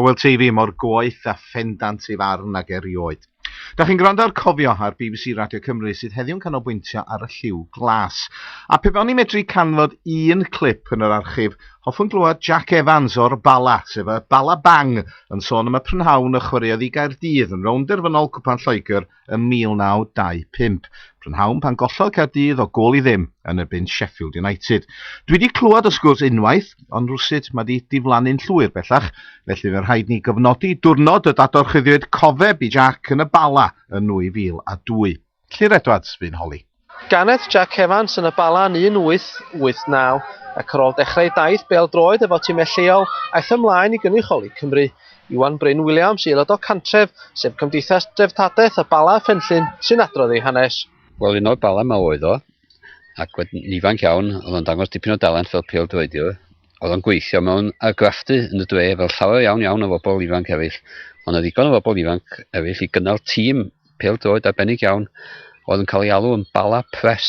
O wel ti fi mor goeth a phendant ei farn ag erioed. Dach chi'n gwrando ar Cofio ar bbc Radio Cymru sydd heddiw'n canolbwyntio ar y lliw glas. A pe fewn i medru canfod un clip yn yr archif, hoffwn glywed Jack Evans o'r Bala, sef y Bala Bang, yn sôn am y prynhawn y chwaraeodd i Gaerdydd yn rownd derfynol Cwpan Lloegr ym 1925. Prynhawn pan gollodd Caerdydd o gôl i ddim yn erbyn Sheffield United. Dwi 'di clywed y sgwrs unwaith, ond rywsut mae 'di diflannu'n llwyr bellach, felly fe rhaid ni gofnodi diwrnod y dadorchuddiwyd cofeb i Jac yn y Bala yn 2002. Llyr Edwards fu'n holi. Ganed Jac Evans yn y Bala yn 1889 ac ar ôl dechrau ei daith bêl-droed efo timau lleol, aeth ymlaen i gynrychioli Cymru. Iwan Bryn Williams, aelod o Cantref, sef Cymdeithas Dreftadaeth y Bala a Phenllyn, sy'n adrodd ei hanes. Wel, un o'r Bala 'ma oedd o, ac wedyn ifanc iawn, oedd o'n dangos dipyn o dalent fel pêl-droediwr. Oedd o'n gweithio mewn argraffu yn y dre fel llawer iawn iawn o fobl ifanc eraill, o' 'na ddigon o fobl ifanc eraill i gynnal tîm pêl-droed arbennig iawn oedd yn cael ei alw yn Bala Press.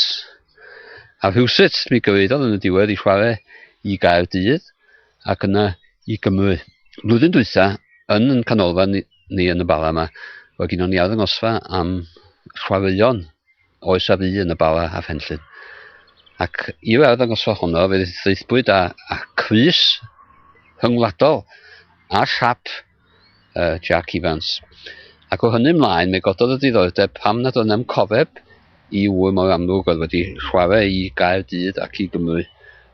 A rhywsut mi gyfeiriodd yn y diwedd i chwarae i Gaerdydd ac yna i Gymru. Blwyddyn dwytha, yn yn canolfan ni yn y Bala yma, roedd gynnon ni arddangosfa am chwaraeon oes a fu yn y Bala a Phenllyn. Ac i'r arddangosfa honno, fe ddeithbwyd â, â Cris rhyngwladol a siap y Jac Ifans. Ac o hynny ymlaen, mi gododd y diddordeb pam nad oedd na'm cofeb i ŵr mor amlwg oedd wedi chwarae i Gaerdydd ac i Gymru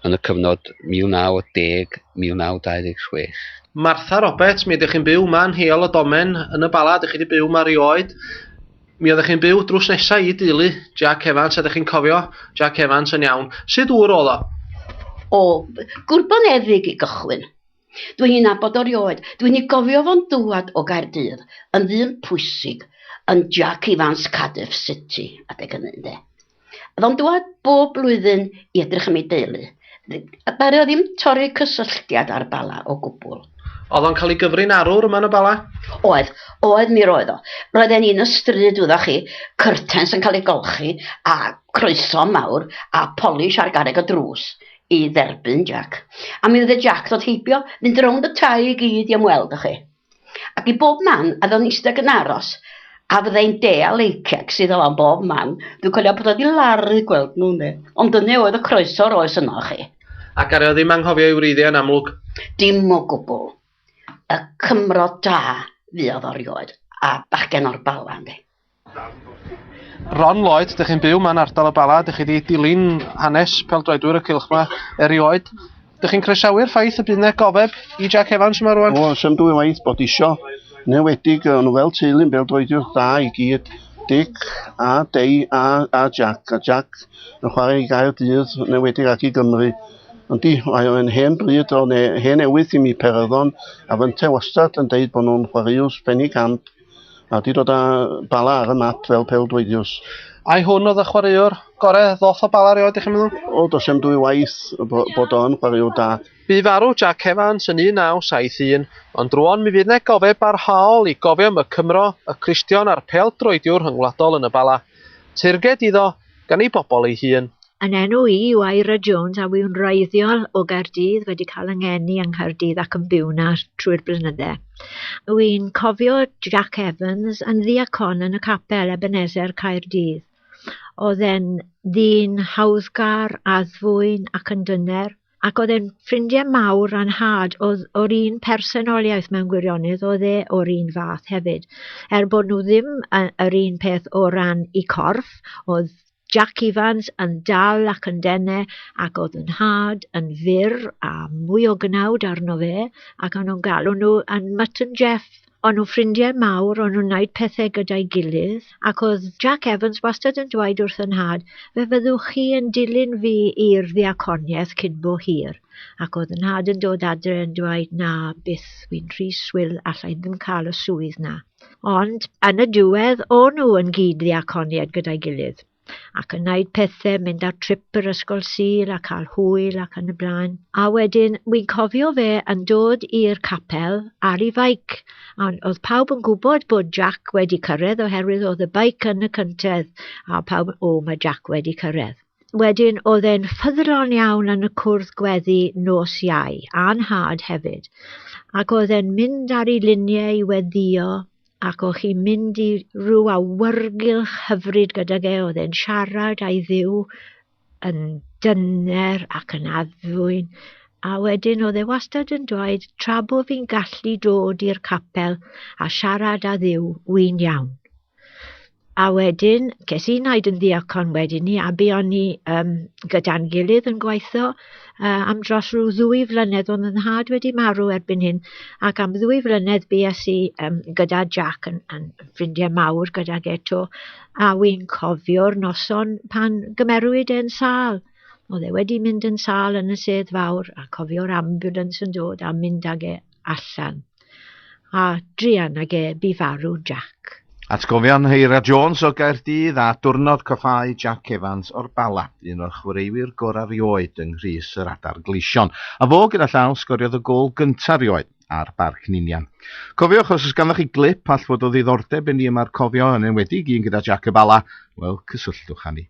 yn y cyfnod 1910-1926. Martha Roberts, Mi ydych chi'n byw 'ma yn Heol y Domen, yn y Bala, dych chi 'di byw 'ma rioed. Mi oeddech chi'n byw drws nesa i deulu Jac Evans, a dych chi'n cofio Jac Evans yn iawn. Sud ŵr oedd o? O, gwrboneddug i gychwyn. Dwi'n ei nabod o rioed. Dwi'n ei gofio fo'n dŵad o Gaerdydd yn ddyn pwysig yn Jac Ifans Cardiff City adeg hynny ynde. Oedd o'n dŵad bob blwyddyn i edrych am ei deulu. Ddaru o ddim torri cysylltiad â'r Bala o gwbl. Oedd o'n cael ei gyfri'n arwr yma yn y Bala? Oedd. Oedd mi roedd o. Roedden ni yn y stryd wyddoch chi, cyrtens yn cael eu golchi a croeso mawr a polish ar garreg y drws. i dderbyn Jac, a mi oedd y Jac ddod heibio, mynd rownd y tai i gyd i ymweld â chi. Ac i bob man, a ddo'n eistedd yn aros, a fydda i'n deall ei cecs iddo fo am bob man. Dwi'n cofio bod o wedi laru gweld nhw, ynde. Ond dyna oedd y croeso yr oes yno chi. Ac ar eo ddim anghofio ei wreiddiau yn amlwg? Dim o gwbl. Y Cymro da fuodd o rioed, a bachgen o'r Bala, ynde. Ron Lloyd, dych chi'n byw ma'n ardal y Bala, dych chi wedi dilyn hanes peldroedwyr y cylch 'ma erioed. Dych chi'n croesawu'r ffaith y bydd 'na gofeb i Jack Evans yma rwan? O, sa'm dwy waith bod isio, yn enwedig o'n nhw fel teulu yn bêl-droediwr da i gyd, Dic a Dei a a Jack, a Jack yn chwarae i Gaerdydd, yn enwedig ac i Gymru. Ond di, mae o'n hen bryd o ne hen newydd i mi, Peryddon, a fynte wastad yn deud bod nhw'n chwaraeus penigamp. A di dod â bala ar y map fel pel dweidiws. Ai hwn oedd y chwaraewr gore ddoth o bala rioed, ych chi'n meddwl? O, dos am dwy waith bod o'n chwaraewr da. Bu farw Jack Evans yn 1971, ond rwan mi fydd ne gofeb barhaol i gofio am y Cymro, y Cristion a'r pel droediwr rhyngwladol yn y bala. Teyrnged iddo, gan ei bobl ei hun. Yn enw i yw Eira Jones a fu'n wreiddiol o Gaerdydd wedi cael yng ngeni yng Nghaerdydd ac yn byw na trwy'r blynydde. Wy'n cofio Jack Evans yn ddiacon yn y capel Ebenezer Caerdydd. Oedd e'n ddyn hawddgar, addfwyn ac yn dyner. ac oedd e'n ffrindiau mawr a'n nhad oedd o'r un personoliaeth mewn gwirionedd, oedd e o'r un fath hefyd. Er bod nhw ddim yr un peth o ran i corff, oedd Jack Evans yn dal ac yn dene ac oedd yn nhad yn fyr a mwy o gnawd arno fe ac o'n nhw'n galw nhw yn Mutton Jeff O'n nhw'n ffrindiau mawr, o'n nhw'n wneud pethau gyda'i gilydd, ac oedd Jack Evans wastad yn dweud wrth fy nhad, 'Fe fyddwch chi yn dilyn fi i'r ddiaconiaeth cyn bo hir', ac oedd fy nhad yn dod adre yn dweud 'Na, byth, wi'n rhy swil, alla i ddim cael y swydd 'na'. Ond, yn y diwedd, o'n nhw yn gyd-ddiaconiaid gyda'i gilydd. ac yn wneud pethau, mynd ar trip yr ysgol Sul a cael hwyl ac yn y blaen. A wedyn, wi'n cofio fe yn dod i'r capel ar ei faic, a oedd pawb yn gwybod bod Jack wedi cyrraedd oherwydd oedd y baic yn y cyntedd, a pawb, o, mae Jack wedi cyrraedd. Wedyn, oedd e'n ffyddlon iawn yn y cwrdd gweddi nos iau, a'n had hefyd, ac oedd e'n mynd ar ei luniau i weddio ac o'ch chi'n mynd i rhyw awyrgylch hyfryd gydag e, oedd e'n siarad a'i dduw yn dyner ac yn addfwyn, a wedyn oedd e wastad yn dweud, tra bod fi'n gallu dod i'r capel a siarad â dduw, wy'n iawn. A wedyn, ces i naid yn ddiacon wedyn ni, a be o'n ni um, gyda'n gilydd yn gweithio uh, am dros rhyw ddwy flynedd o'n yn had wedi marw erbyn hyn, ac am ddwy flynedd bues i um, gyda Jack yn, yn ffrindiau mawr gyda Geto, a wy'n cofio'r noson pan gymerwyd e'n sal. Oedd e wedi mynd yn sal yn y sedd fawr a cofio'r ambulance yn dod a mynd ag e allan. A druan ag e bu farw Jac. Atgofion Heira Jones o Gaerdydd a diwrnod coffáu Jac Evans o'r Bala, un o'r chwaraewyr gorau rioed yng nghrys yr Adar Gleision, a fo gyda llaw sgoriodd y gôl gyntaf rioed ar Barc Ninian. Cofiwch os oes ganddoch chi glip all fod o ddiddordeb i ni yma'r cofio yn enwedig un gyda Jac y Bala, wel cysylltwch â ni.